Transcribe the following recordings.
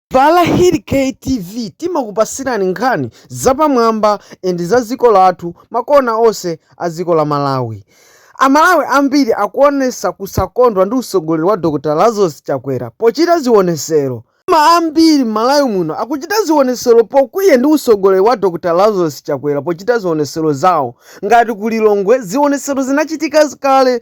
Pa Lahiri Kay TV timakupasirani nkhani zapamwamba and za dziko lathu makona onse a ziko la Malawi. A Malawi ambiri akuonesa kusakondwa ndi usogoleri wa Dr Lazarus Chakwera pochita zionesero. Koma ambiri m'Malawi muno akuchita zionesero pokwiya ndi usogoleri wa Dr Lazarus Chakwera pochita zionesero zawo ngati ku Lilongwe zionesero zinachitika kale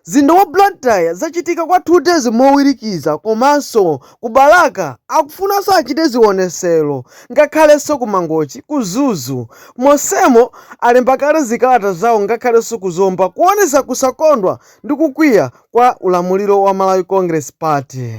Mzinda wa Blantyre zachitika kwa 2 days mowirikiza komanso ku Balaka akufunanso achite zionesero ngakhalenso ku Mangochi, ku Mzuzu monsemo alemba kale zikalata zawo ngakhalenso ku Zomba kuonesa kusakondwa ndi kukwiya kwa ulamuliro wa Malawi Congress Party.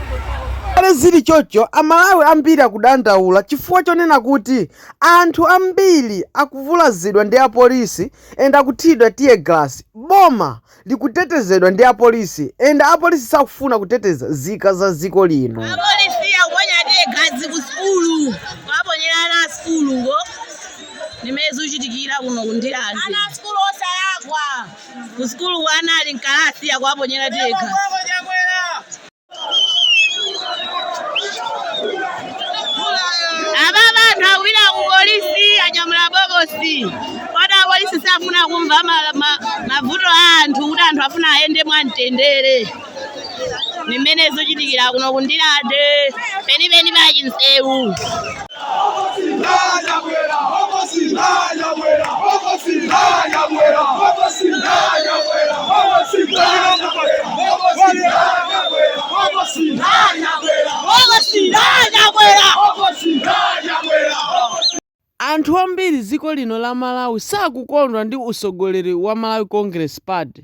Ngakhale zili choncho, Amalawi ambiri akudandaula chifukwa chonena kuti anthu ambiri akuvulazidwa ndi apolisi and akuthiridwa teargas, boma likutetezedwa ndi apolisi and apolisi sakufuna kuteteza zika za ziko lino. Apolisi akuponya teargas ku sukulu, kuwaponyera ana a sukulu, ndi mmene zikuchitikira kuno ku Ndirande. Ana a sukulu osalakwa, ku sukulu ana ali m'kalasi akuwaponyera teargas. apapa anthu akupita ku polisi anyamula bokosi koma apolisi safuna kumva ma- ma- mavuto a anthu kuti anthu afuna ayende mwamtendere ndi mmene zikuchitikira kuno ku Ndirande penipeni pa Chinsewu Anthu ambiri dziko lino la Malawi sakukondwa ndi usogoleri wa Malawi Congress Party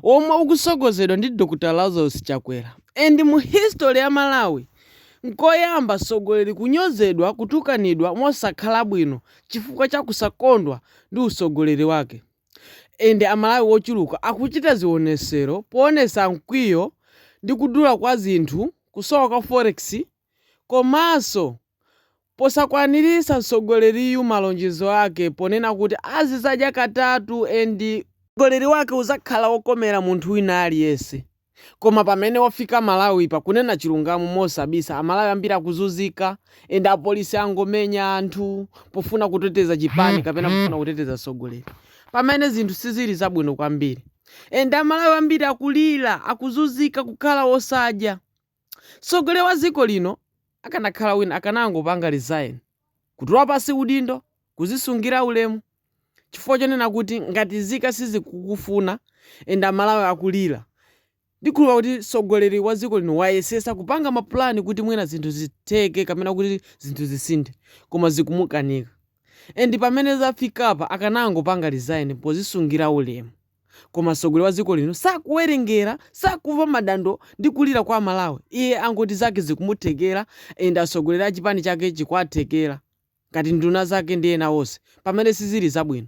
omwe ukusogozedwa ndi Dr Lazarus Chakwera and mu history ya Malawi Nkoyamba msogoleri kunyozedwa kutukanidwa mosakhala bwino chifukwa cha kusakondwa ndi usogoleri wake and a Malawi wochuluka akuchita zionesero poonesa mkwiyo ndi kudula kwa zinthu, kusowa kwa forex komanso Posakwanirisa msogoleriyu malonjezo ake ponena kuti azizadya katatu and usogoleri wake uzakhala wokomera munthu wina aliyense koma pamene wafika Malawi pa kunena chilungamo mosabisa amalawi ambiri akuzunzika and apolisi angomenya anthu pofuna kuteteza chipani kapena pofuna kuteteza msogoleri pamene zinthu sizili zabwino kwambiri and amalawi ambiri akulira akuzunzika kukhala osadya Mtsogoleri wa dziko lino akanakhala wina akanangopanga resign, kutula pansi udindo, kudzisungira ulemu chifukwa chonena kuti ngati nzika sizikukufuna and amalawi akulira. Ndikhulupira kuti mtsogoleri wa dziko lino wayesetsa kupanga ma plan kuti mwina zinthu zitheke kapena kuti zinthu zisinthe koma zikumukanika and pamene zafikapa akanangopanga resign pozisungira ulemu. Koma mtsogoleri wa dziko lino sakuwerengera, sakumva madando ndi kulira kwa Amalawi. Iye angoti zake zikumuthekera and atsogoleri a chipani chake zikuwathekera ngati nduna zake ndi ena onse pamene sizili zabwino.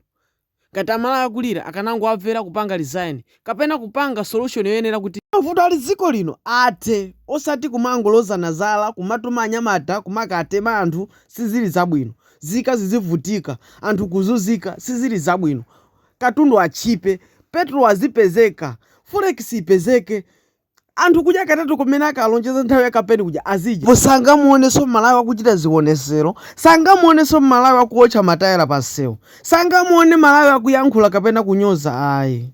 Ngati a Malawi akulira akanangowamvera kupanga resign kapena kupanga solution yoyenera kuti mavuto ali dziko lino athe osati kumangolozana zala kumatuma anyamata kumakatema anthu sizili zabwino. Nzika zizivutika, anthu kuzunzika sizili zabwino. katundu atchipe, petrol azipezeka, forex ipezeke, anthu kudya katatu kamene akalonjeza nthawi ya kampeni kuja azidya. Ndipo sangamuonenso Malawi akuchita zionesero, sangamuonenso Malawi akuotcha matayala pa msewu, sangamuone Malawi akuyankhula kapena kunyoza ayi.